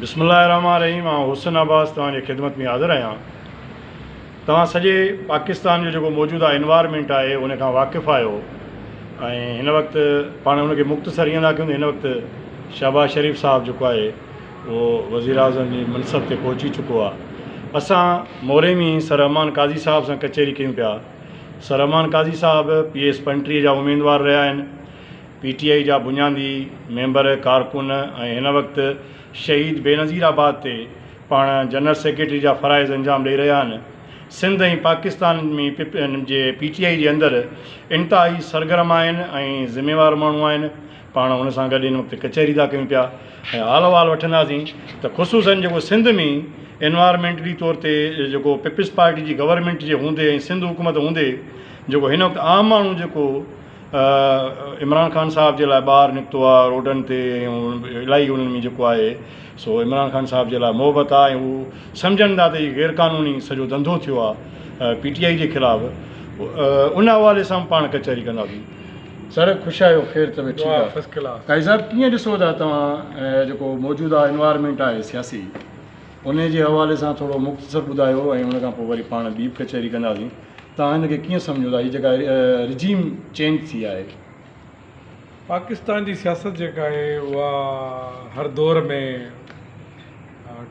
بسم الله الرحمٰن الرحيم آئون حسن عباس توهان جي خدمت ۾ حاضر آهيان توهان سڄي پاڪستان جو جيڪو موجوده انوائرمينٽ آهي ان کان واقف آهيو ۽ هن وقت پاڻ ان کي مختصر ايئن ٿا ڪيون هن وقت شهباز شريف صاحب جيڪو آهي اهو وزير اعظم جي منصب تي پهچي چڪو آهي اسان موري ۾ سر امان قاضي صاحب سان ڪچهري ڪيون پيا سر امان قاضي صاحب پي ايس پنٽري جا اميدوار رهيا آهن پي ٽي آء جا بنيادي ميمبر ڪارڪن ۽ هن وقت شهيد بينظير آباد تي پاڻ جنرل سيڪريٽري جا فرائض انجام ڏئي رهيا آهن سنڌ ۽ پاڪستان ۾ پ پ جي پي ٽي آء جي اندر انتهائي سرگرم آهن ۽ ذميوار ماڻهو آهن پاڻ هن سان گڏ هن وقت ڪچهري ٿا ڪيون پيا ۽ حال احوال وٺنداسين ته خصوصن جيڪو سنڌ ۾ انوارمينٽلي طور تي جيڪو پيپلز پارٽي جي گورنمينٽ جي هوندي ۽ سنڌ حڪومت هوندي جيڪو هن وقت عام ماڻهو جيڪو عمران خان صاحب جي لاء ٻاهر نڪتو آ روڊن تي ۽ الائي انهن ۾ جيڪو آهي سو عمران خان صاحب جي لاء محبت آ ۽ هو سمجهن ٿا ته هي غير قانوني سڄو ڌنڌو ٿيو آ پي ٽي آئي جي خلاف ان حوالي سان پاڻ ڪچهري ڪنداسين. سر خوش آهيو خير طبيعت ٺيڪ آ قائد صاحب ڪيئن ڏسو ٿا توهان جيڪو موجوده انوائرمينٽ آهي سياسي. انهيء جي حوالي سان ٿورو مختصر ٻڌايو ۽ ان کان پوء وري پاڻ ٻي به ڪچهري ڪنداسين. توهان هن کي ڪيئن سمجهو ٿا هي جيڪا رجيم چينج ٿي آهي. پاڪستان جي سياست جيڪا آهي اها هر دور ۾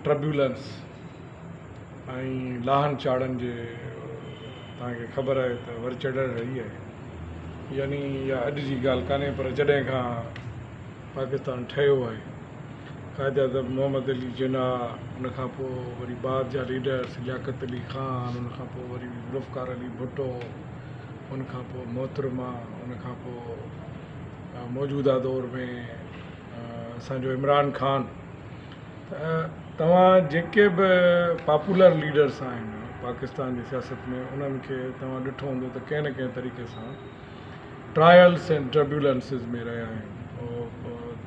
ٽربيولنس ۽ لاهن چاڙهن جي توهان کي خبر آهي ته ور چڙهڻ رهي آهي يعني اها اڄ جي ڳالهه ڪانهي پر جڏهن کان پاڪستان ٺهيو آهي. قائداعظم محمد علي جناح، ان کان پوء وري بعد جا ليڊرز لياقت علي خان، ان کان پوء وري ذوالفقار علي ڀٽو، ان کان پوء محترمه، ان کان پوء موجوده دور ۾ اسان جو عمران خان ته توهان جيڪي به پاپولر ليڊرز آهن پاڪستان جي سياست ۾ انهن کي توهان ڏٺو هوندو ته ڪنهن نه ڪنهن طريقي سان ٽرائلس اينڊ ٽربيولنسز ۾ رهيا آهن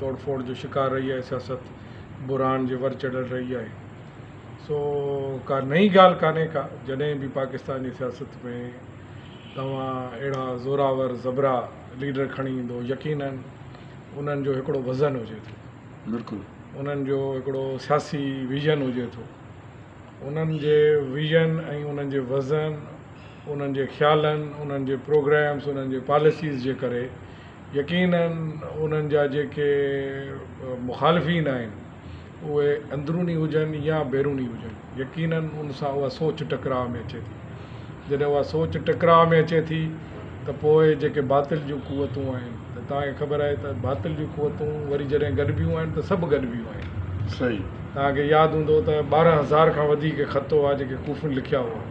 توڙ ڦوڙ جو شڪار رهي آهي سياست بحران جي ور چڙهيل رهي آهي سو ڪا نئي ڳالهه ڪانهي ڪا جڏهن به پاڪستان جي سياست ۾ توهان اهڙا زوراور زبرا ليڊر کڻي ايندو يقينن انهن جو هڪڙو وزن هجي ٿو بلڪل انهن جو هڪڙو سياسي ويزن هجي ٿو انهن جي ويزن ۽ انهن جي وزن انهن جي خيالن، انهن جي پروگريمز، انهن جي پاليسيز جي ڪري يقينن انهن جا جيڪي مخالفين آهن اهي اندروني هجن يا بيروني هجن يقينن ان سان اها سوچ ٽڪراء ۾ اچي ٿي. جڏهن اها سوچ ٽڪراء ۾ اچي ٿي ته پوء جيڪي باطل جون قوتون آهن ته توهان کي خبر آهي ته باطل جون قوتون وري جڏهن گڏبيون آهن ته سڀ گڏبيون آهن. صحيح. توهان کي ياد هوندو ته ٻارهن هزار کان وڌيڪ خط هئا جيڪي ڪوفين لکيا هئا.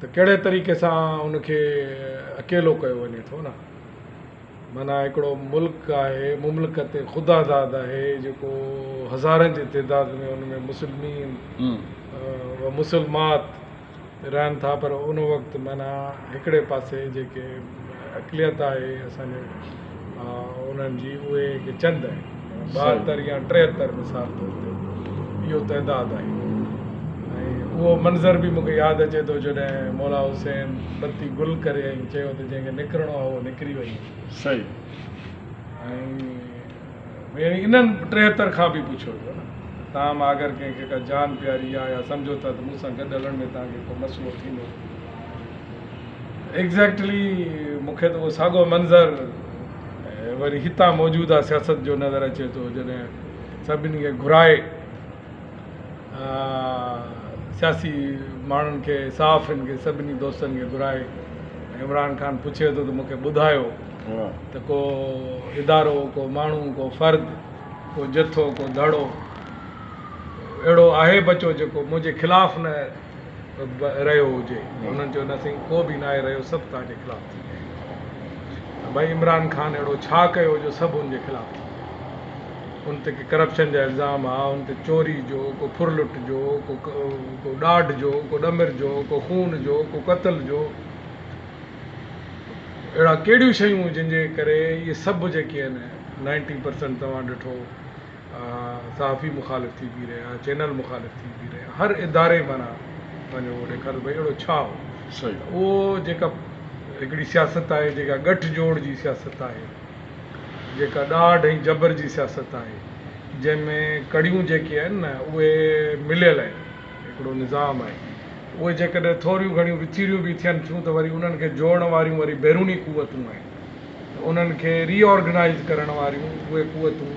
ته ڪهڙي طريقي سان ان کي اڪيلو ڪيو وڃي ٿو نه معنيٰ هڪڙو ملڪ آهي مملڪت خود آزاد آهي جيڪو هزارن جي تعداد ۾ ان ۾ مسلمين و مسلمات رهن ٿا پر ان وقت معنيٰ هڪڙي پاسي جيڪي اقليت آهي اسان جي انهن جي اهي هڪ چند آهن. ٻاهتر يا ٽيهتر مثال طور تي اهو تعداد آهي ۽ اهو منظر به مون کي ياد اچي ٿو جڏهن مولا حسين بتي گل ڪري ۽ چيو ته جنهن کي نڪرڻو آهي اهو نڪري وڃي. صحيح. ۽ يعني انهن ٽيهتر کان به پڇيو ويو نه تاهم آگر ڪنهن کي ڪا جان پياري آ يا سمجهو ٿا ته مون سان گڏ هلڻ ۾ توهان کي ڪو مسئلو ٿيندو ايگزيڪٽلي مون کي ته اهو ساڳو منظر وري هتان موجوده سياست جو نظر اچي ٿو جڏهن سڀني کي گهرائي سياسي ماڻهن کي صحافين کي سڀني دوستن کي گهرائي عمران خان پڇي ٿو ته مون کي ٻڌايو ته ڪو ادارو ڪو ماڻهو ڪو فرد ڪو جٿو ڪو ڌڙو اهڙو آهي بچو جيڪو منهنجي خلاف نه رهيو هجي انهن چيو نه سائين ڪو به ناهي رهيو سڀ توهان جي خلاف ٿي ويا آهن ڀائي عمران خان اهڙو ڇا ڪيو جو سڀ ان جي خلاف ٿي ويا ان تي ڪرپشن جا الزام آ ان تي چوري جو ڪو ڦر لٽ جو ڪو ڏاڍ جو ڪو ڏمر جو ڪو خون جو ڪو قتل جو اهڙا ڪهڙيون شيون جن جي ڪري اهي سڀ جيڪي آهن نائنٽي پرسنٽ توهان ڏٺو صحافي مخالف ٿي بيهي رهيا چينل مخالف ٿي بيهي رهيا هر اداري معنيٰ پنهنجو اهو ڏيکاريو ڀئي اهڙو ڇا هو صحيح اهو جيڪا هڪڙي سياست آهي جيڪا ڳٺ جوڙ جي سياست آهي جيڪا ڏاڍ ۽ جبر جي سياست آهي جنهن ۾ ڪڙيون جيڪي آهن نه اهي مليل آهن هڪڙو نظام آهي اهي جيڪڏهن ٿوريون گهڻيون وچيريون به ٿين ٿيون ته وري انهن کي جوڙڻ واريون وري بيروني قوتون آهن انهن کي ري آرگنائيز ڪرڻ واريون اهي قوتون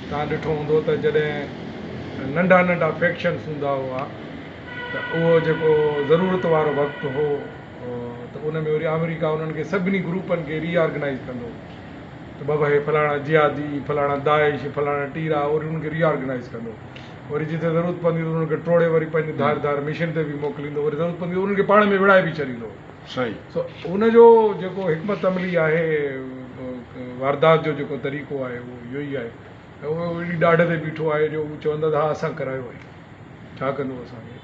توهان ڏٺو هوندو ته جڏهن ننڍا ننڍا فيڪشنس هوندا هئا ته اهو جيڪو ضرورت وارو وقت هو ته ان ۾ وري آمريڪا انهن کي سڀني گروپن کي ري آرگنائيز ڪندو هو ته بابا هي فلاڻا جهادي فلاڻا داعش فلاڻا ٽيرا وري انهن کي ري آرگنائيز ڪندو وري جتي ضرورت پوندي ته انهن کي ٽوڙي وري پنهنجي ڌار ڌار مشن تي به موڪليندو وري ضرورت پوندي انهن کي پاڻ ۾ وڙهائي به ڇڏيندو سائين. سو ان جو جيڪو حڪمت عملي آهي واردات جو جيڪو طريقو آهي اهو اهو ئي آهي ته اهو ايڏي ڏاڍ تي بيٺو آهي جو هو چوندا ته ها اسان ڪرايو آهي ڇا ڪندو اسان کي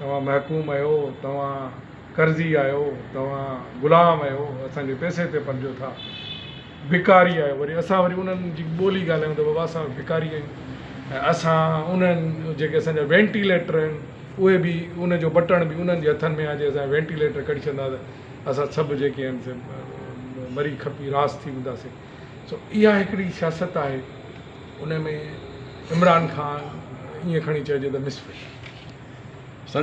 توهان محڪوم آهيو توهان قرضي آهيو توهان غلام آهيو اسان جي پئسي تي پلجو ٿا. ڀڪاري آهي وري اسان وري انهن جي ٻولي ڳالهايون ته بابا اسان ڀڪاري آهيون ۽ اسان انهن جيڪي اسان جا وينٽيليٽر آهن اهي به ان جو بٽڻ به انهن جي هٿن ۾ آهي جي اسان وينٽيليٽر ڪڍي ڇڏندا ته اسان سڀ جيڪي آهن سي مري کپي راس ٿي وينداسين سو اها هڪڙي سياست آهي ان ۾ عمران خان ائين کڻي چئجي ته مسفل سر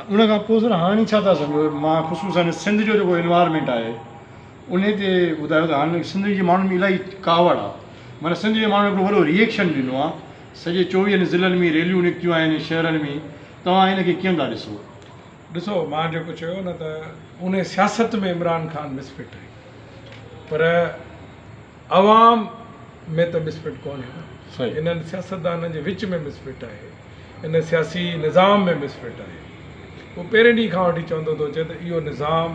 ان کان پوء سر هاڻي ڇا ٿا سمجهو مان خصوصن سنڌ جو جيڪو انوائرمينٽ آهي انهي تي ٻڌايو ته هاڻ سنڌ جي ماڻهن ۾ الاهي ڪاوڙ آ معنيٰ سنڌ جي ماڻهن هڪڙو وڏو ريئڪشن ڏنو آ سڄي چوويهن ضلعن ۾ ريليون نڪتيون آهن شهرن ۾ توهان ان کي ڪيئن ٿا ڏسو؟ ڏسو مان جيڪو چيو نه ته انهي سياست ۾ عمران خان مسفٽ آهي پر عوام ۾ ته مسفٽ ڪونهي نه صحيح انهن سياستدانن جي وچ ۾ مسفٽ آهي ان سياسي نظام ۾ مسفٽ آهي هو پهرين ڏينهن کان وٺي چوندو ٿو اچي ته اهو نظام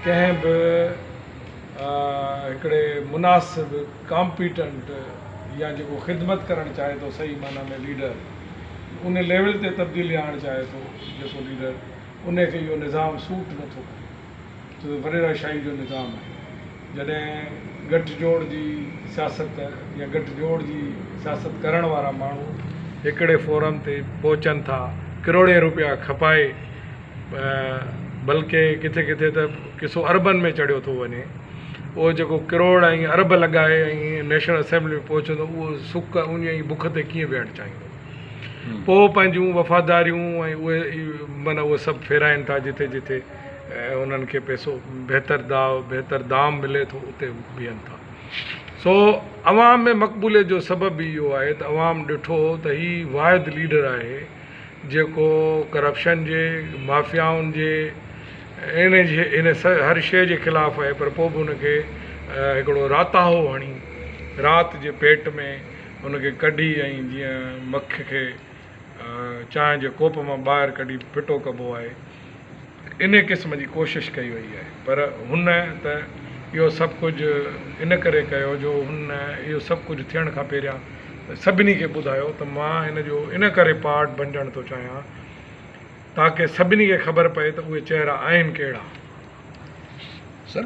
ڪنهن به هڪڙي مناسب ڪامپيٽنٽ يا جيڪو خدمت ڪرڻ چاهي ٿو صحيح معنيٰ ۾ ليڊر ان ليول تي تبديلي آڻڻ چاهي ٿو جيڪو ليڊر ان کي اهو نظام سوٽ نٿو ڪري ته وريرا شاهي جو نظام آهي. جڏهن ڳٺ جوڙ جي سياست يا ڳٺ جوڙ جي سياست ڪرڻ وارا ماڻهو هڪڙي فورم تي پهچن ٿا ڪروڙين روپيا کپائي بلڪه ڪٿي ڪٿي ته ڪسو اربن ۾ چڙهيو ٿو وڃي اهو جيڪو ڪروڙ ۽ ارب لڳائي ۽ نيشنل اسيمبلي ۾ پهچندو اهو سڪ ان جي بک تي ڪيئن ويهڻ چاهيندو پوء پنهنجون وفاداريون ۽ اهي معنيٰ اهو سڀ ڦيرائين ٿا جٿي جٿي ۽ انهن کي پئسو بهتر داء بهتر دام ملي ٿو اتي هو بيهن ٿا سو عوام ۾ مقبوليت جو سبب به اهو آهي ته عوام ڏٺو ته هي واحد ليڊر آهي جيڪو ڪرپشن جي مافيائن جي ان جي ان هر شيء جي خلاف آهي پر پوء به ان کي هڪڙو راتاهو هڻي رات جي پيٽ ۾ ان کي ڪڍي ۽ جيئن مک کي چانهه جي ڪوپ مان ٻاهر ڪڍي ڦٽو ڪبو آهي انهي قسم جي ڪوشش ڪئي وئي آهي پر هن ته اهو سڀ ڪجهه ان ڪري ڪيو جو هن اهو سڀ ڪجهه ٿيڻ کان پهريان سڀني کي ٻڌايو ته مان هن جو ان ڪري پارٽ بنجڻ ٿو چاهيان تاڪه سڀني کي خبر پئي ته اهي چهرا آهن ڪهڙا سر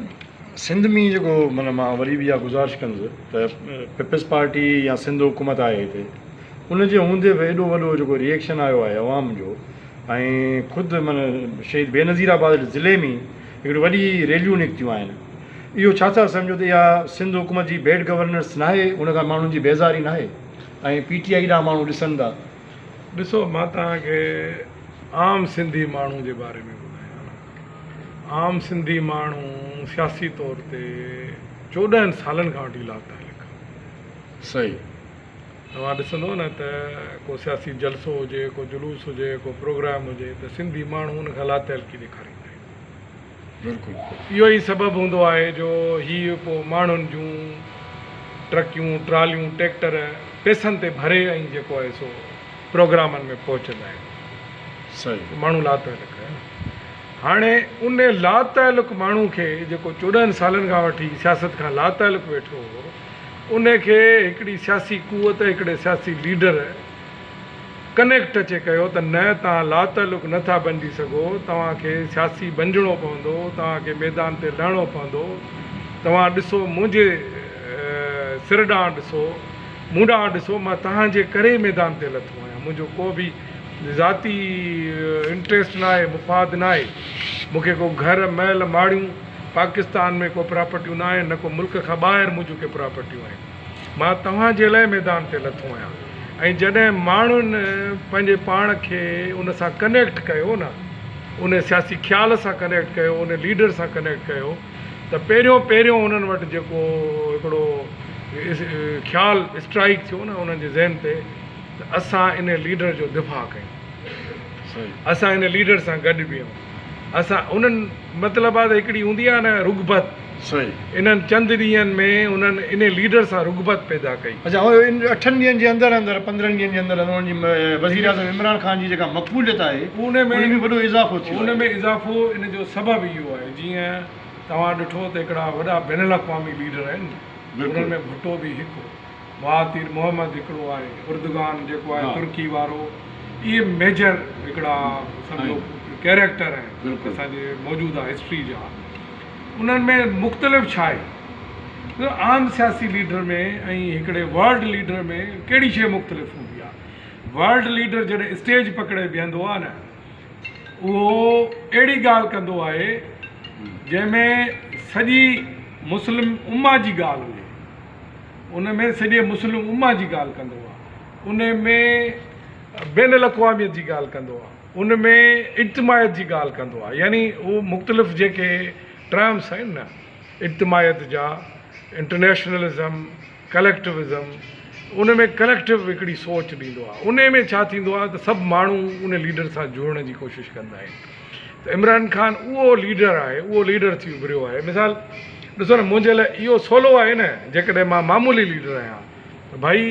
سنڌ مين جيڪو معنيٰ مان وري به اها گذارش ڪندس ته پيپلز پارٽي يا سنڌ حڪومت آهي هتي ان جي هوندي به ايڏو وڏو جيڪو ريئيڪشن آيو آهي عوام جو ۽ خود معنيٰ شهيد بينظير آباد ضلعي مين هڪڙي وڏي ريليون نڪتيون آهن اهو ڇا ٿا سمجهو ته اها سنڌ حڪومت جي بيڊ گورننس ناهي ان کان ماڻهن جي بيزاري ناهي ۽ پي ٽي آئي ڏانهن ماڻهو ڏسن ٿا ڏسو مان توهان کي عام سنڌي ماڻهو جي باري ۾ ٻڌايان عام سنڌي ماڻهو سياسي طور تي چوڏهن سالن کان وٺي لاتعلق آ صحيح توهان ڏسندو نه ته ڪو سياسي جلسو هجي ڪو جلوس هجي ڪو پروگرام هجي ته سنڌي ماڻهو ان کان لاتعلقي ڏيکاريندا آهن بلڪل اهو ئي سبب هوندو آهي جو هي پو ماڻهن جون ٽرڪيون ٽراليون ٽيڪٽر پيسن تي ڀري ۽ جيڪو آهي سو پروگرامن ۾ پهچندا آهن صحيح ماڻهو لاتعلق آهن هاڻي ان لاتعلق ماڻهو کي جيڪو چوڏهن سالن کان وٺي سياست کان لاتعلق ويٺو هو ان کي هڪڙي سياسي قوت هڪڙي سياسي ليڊر ڪنيڪٽ اچي ڪيو ته نه توهان لاتعلق نه ٿا بنجي سگهو توهان کي سياسي بنجڻو پوندو توهان کي ميدان تي لهڻو پوندو توهان ڏسو منهنجي سر ڏانهن ڏسو مون ڏانهن ڏسو مان توهان جي ڪري ميدان تي لٿو آهيان منهنجو ڪو به ذاتي انٽريسٽ ناهي مفاد ناهي مون کي ڪو گهر محل ماڙيون پاڪستان ۾ ڪو پراپرٽيون نه آهن نه ڪو ملڪ کان ٻاهر منهنجون ڪي پراپرٽيون آهن مان توهان جي لاء ميدان تي لٿو آهيان ۽ جڏهن ماڻهن پنهنجي پاڻ کي ان سان ڪنيڪٽ ڪيو نه ان سياسي خيال سان ڪنيڪٽ ڪيو ان ليڊر سان ڪنيڪٽ ڪيو ته پهريون پهريون انهن وٽ جيڪو هڪڙو خيال اسٽرائيڪ ٿيو نه انهن جي ذهن تي ته اسان ان ليڊر جو دفاع ڪيون، اسان ان ليڊر سان گڏ بيهون، اسان انهن مطلب آ ته هڪڙي هوندي آ نه رغبت، انهن چند ڏينهن ۾ انهن ان ليڊر سان رغبت پيدا ڪئي. اڇا ان اٺن ڏينهن جي اندر اندر پندرهن ڏينهن جي اندر اندر انهن جي وزيراعظم عمران خان جي جيڪا مقبوليت آهي ان ۾ به وڏو اضافو ٿيو آهي. ان ۾ اضافو ان جو سبب اهو آهي جيئن توهان ڏٺو ته هڪڙا وڏا بين الاقوامي ليڊر آهن انهن ۾ ڀٽو به هڪ هو. مهاتير محمد هڪڙو آهي اردگان جيڪو آهي ترڪي وارو اهي ميجر هڪڙا سمجهو ڪيريڪٽر آهن اسان جي موجوده هسٽري جا انهن ۾ مختلف ڇا آهي عام سياسي ليڊر ۾ ۽ هڪڙي ورلڊ ليڊر ۾ ڪهڙي شيء مختلف هوندي آهي ورلڊ ليڊر جڏهن اسٽيج پڪڙي بيهندو آهي نه اهو اهڙي ڳالهه ڪندو آهي جنهن ۾ سڄي مسلم اما جي ڳالهه هجي ان ۾ سڄي مسلم امّه جي ڳالهه ڪندو آهي، ان ۾ بين الاقواميت جي ڳالهه ڪندو آهي، ان ۾ اجتماعيت جي ڳالهه ڪندو آهي يعني اهو مختلف جيڪي ٽرمس آهن نه اجتماعيت جا، انٽرنيشنلزم، ڪليڪٽوزم، ان ۾ ڪليڪٽو هڪڙي سوچ ڏيندو آهي، ان ۾ ڇا ٿيندو آهي ته سڀ ماڻهو ان ليڊر سان جڙڻ جي ڪوشش ڪندا آهن. ته عمران خان اهو ليڊر آهي، اهو ليڊر ٿي اڀريو آهي. مثال ڏسو نه منهنجي لاء اهو سولو آهي نه جيڪڏهن مان معمولي ليڊر آهيان ته ڀائي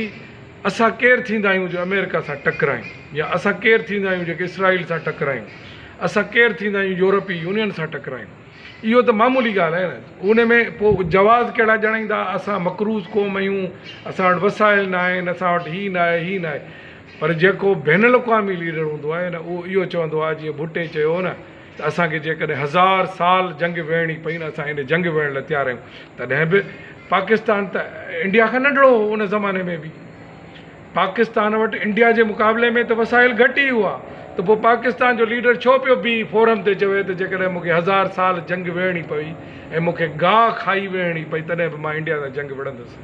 اسان ڪير ٿيندا آهيون جو آمريڪا سان ٽڪرايون يا اسان ڪير ٿيندا آهيون جيڪي اسرائيل سان ٽڪرايون، اسان ڪير ٿيندا آهيون يورپي يونين سان ٽڪرايون. اهو ته معمولي ڳالهه آهي نه ان ۾ پوء جواز ڪهڙا ڄاڻائيندا اسان مقروض قوم آهيون، اسان وٽ وسائل ناهن، اسان وٽ هي ناهي، هي ناهي. پر جيڪو بين الاقوامي ليڊر هوندو آهي نه اهو اهو چوندو آهي جيئن ڀٽي چيو هو نه ته اسان کي جيڪڏهن هزار سال جنگ وڙهڻي پئي نه اسان ان جنگ وڙهڻ لاء تيار آهيون تڏهن به پاڪستان ته انڊيا کان ننڍڙو هو ان زماني ۾ به پاڪستان وٽ انڊيا جي مقابلي ۾ ته وسائل گهٽ ئي هئا ته پوء پاڪستان جو ليڊر ڇو پيو بيهي فورم تي چوي ته جيڪڏهن مون کي هزار سال جنگ وڙهڻي پوي ۽ مون کي گاهه کائي وڙهڻي پئي تڏهن به مان انڊيا سان جنگ وڙهندس.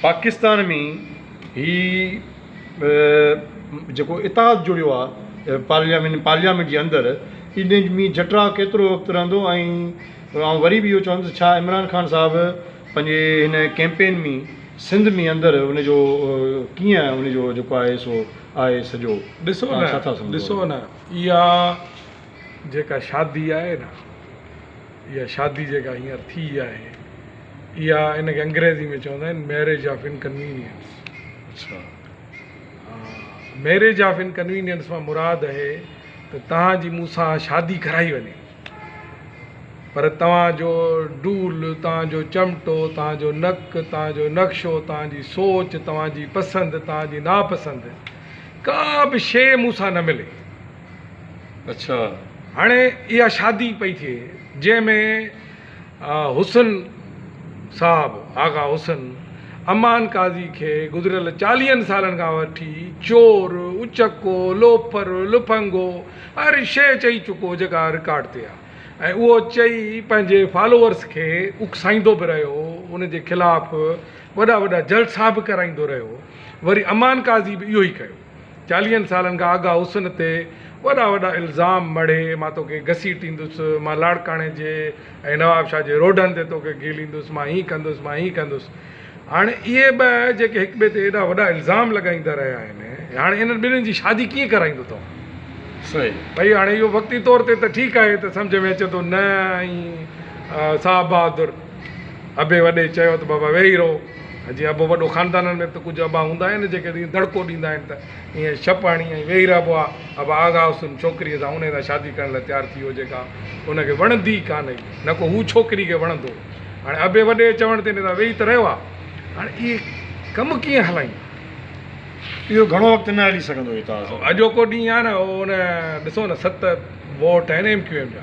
پاڪستان ۾ هي جيڪو اتحاد جڙيو آ پارليامين پارليامينٽ جي اندر ان ۾ جٽراء ڪيترو وقت رهندو ۽ آئون وري به اهو چوندس ته ڇا عمران خان صاحب پنهنجي هن ڪيمپين ۾ سنڌ ۾ اندر ان جو ڪيئن ان جو جيڪو آهي سو آهي سڄو ڏسو نه ڏسو نه اها جيڪا شادي آهي نه اها شادي جيڪا هينئر ٿي آهي اها ان کي انگريزي ۾ چوندا آهن ميريج آف انڪنوينيئنس اڇا ميريج آف انڪنوينيئنس مان مراد اهي ته توهان جي مون سان شادي ڪرائي وڃي پر توهان جو ڊول توهان جو چمٽو توهان جو نڪ توهان جو نقشو توهان جي سوچ توهان جي پسند توهان جي ناپسند ڪا به شيء مون سان نه ملي هاڻي اها شادي پئي ٿئي جنهن ۾ حسن صاحب آغا حسن امان قاضي کي گذريل چاليهن سالن کان وٺي چور، اچڪو، لوفر، لڦنگو هر شيء چئي چڪو هو جيڪا رڪارڊ تي آهي ۽ اهو چئي پنهنجي فالوورز کي اڪسائيندو به رهيو هو ان جي خلاف وڏا وڏا جلسا به ڪرائيندو رهيو هو وري امان قاضي به اهو ئي ڪيو. چاليهن سالن کان آغا حسن تي وڏا وڏا الزام مڙهي مان توکي گسيٽيندس، مان لاڙڪاڻي جي ۽ نوابشاهه جي روڊن تي توکي گهيليندس، مان هيئن ڪندس، مان هيئن ڪندس. هاڻي اهي ٻه جيڪي هڪ ٻئي تي ايڏا وڏا الزام لڳائيندا رهيا آهن، هاڻي انهن ٻنهين جي شادي ڪيئن ڪرائيندو توهان؟ ڀئي هاڻي اهو وقتي طور تي ته ٺيڪ آهي ته سمجهه ۾ اچي ٿو نه ۽ صاحب بهادر. ابي وڏي چيو ته بابا ويهي رهو ۽ جيئن ابو وڏو خاندانن ۾ به ته ڪجهه ابا هوندا آهن جيڪي جيئن دڙڪو ڏيندا آهن ته ايئن شپ هڻي ۽ ويهي رهبو آهي ابا آغا هوس ان ڇوڪريء سان انهيء سان شادي ڪرڻ لاء تيار ٿي ويو جيڪا ان کي وڻندي ئي ڪانه هئي نه ڪو هو ڇوڪري کي وڻندو هو هاڻي ابي وڏي جي چوڻ تي ندا ويهي ته رهيو آهي هاڻي اهي ڪم ڪيئن هلائيندا. اهو گهڻو وقت نه هلي سگهندو هي ته اڄوڪو ڏينهن آهي نه هو ان ڏسو نه ست ووٽ آهن ايم ڪيو ايم جا.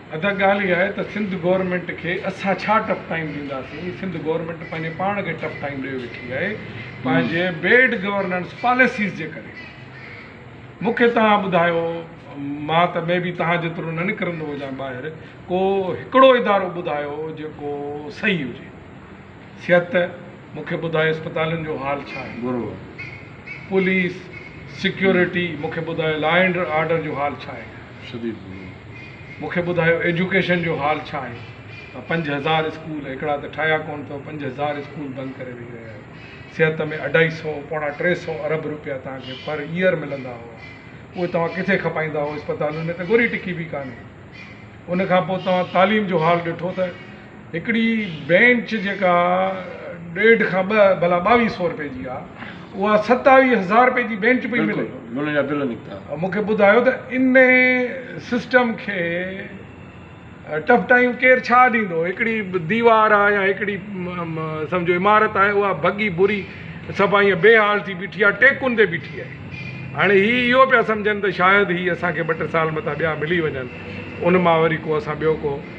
ادا ڳالهه اها آهي ته سنڌ گورنمينٽ کي اسان ڇا ٽف ٽائيم ڏينداسين سنڌ گورنمينٽ پنهنجي پاڻ کي ٽف ٽائيم ڏئي ويٺي آهي پنهنجي بيڊ گورننس پاليسيز جي ڪري مون کي توهان ٻڌايو مان ته مي بي توهان جيترو نه نڪرندو هجان ٻاهر ڪو هڪڙو ادارو ٻڌايو جيڪو صحيح هجي صحت مون کي ٻڌايو اسپتالن جو حال ڇا آهي برابر پوليس سيڪيورٽي مون کي ٻڌايو لا اينڊ آرڊر جو حال ڇا آهي شديد ڀڳو مون کي ٻڌايو ايجوڪيشن جو حال ڇا آهي ته پنج هزار اسڪول هڪڙا ته ٺاهيا ڪونه اٿو پنج هزار اسڪول بند ڪري ويهي رهيا آهيو صحت ۾ اڍائي سئو پوڻا ٽي سئو ارب روپيا توهان کي پر ايئر ملندا هئا اهي توهان ڪٿي کپائيندا هئو اسپتالن ۾ ته ڳوري ٽڪي به ڪانهي ان کان پوء توهان تعليم جو حال ڏٺو ته هڪڙي بينچ جيڪا ڏيڍ کان ٻه ڀلا ٻاويهه سئو رپئي جي آ اها ستاويهه هزار رپئي جي بينچ پئي ملي بلڪل جا بل نڪتا. مون کي ٻڌايو ته ان سسٽم کي ٽف ٽائيم ڪير ڇا ڏيندو هڪڙي ديوار آ يا هڪڙي سمجهو عمارت آهي اها ڀڳي بري سفا ايئن بي حال ٿي بيٺي آ ٽيڪن تي بيٺي آهي هاڻي هي اهو پيا سمجهن ته شايد هي اسان کي ٻه ٽه سال متان ٻيا ملي وڃن ان مان وري ڪو اسان ٻيو ڪو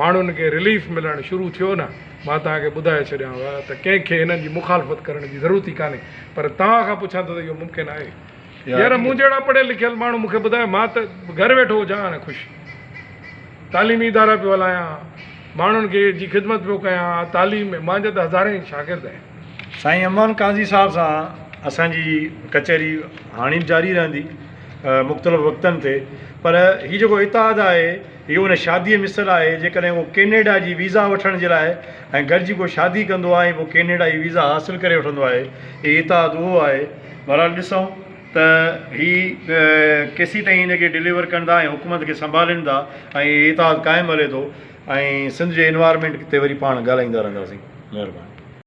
ماڻهن کي رليف ملڻ شروع ٿيو نه مان توهان کي ٻڌائي ڇڏيانو ته ڪنهن کي هنن جي مخالفت ڪرڻ جي ضرورت ئي ڪانهي پر توهان کان پڇان ٿو ته اهو ممڪن آهي يار مون جهڙا پڙهيل لکيل ماڻهو مون کي ٻڌايو مان ته گهر ويٺو هجان ها نه خوش تعليمي ادارا پيو هلايان ماڻهن کي جي خدمت پيو ڪيان ها تعليم ۾ مانجا ته هزارين شاگرد آهن. سائين امان قاضي صاحب سان اسان جي ڪچهري هاڻي به جاري رهندي مختلف وقتن تي پر هي جيڪو اتحاد آهي اهو ان شاديء مثل آهي، جيڪڏهن ڪو ڪينيڊا جي ويزا وٺڻ جي لاء ۽ گڏجي ڪو شادي ڪندو آهي ۽ پوء ڪينيڊا جي ويزا حاصل ڪري وٺندو آهي. هي اتحاد اهو آهي. بهرحال ڏسون ته هي ڪيسين تائين ان کي ڊليور ڪن ٿا ۽ حڪومت کي سنڀالين ٿا ۽ هي اتحاد قائم هلي ٿو ۽ سنڌ جي انوائرمينٽ تي وري پاڻ ڳالهائيندا رهنداسين. مهرباني.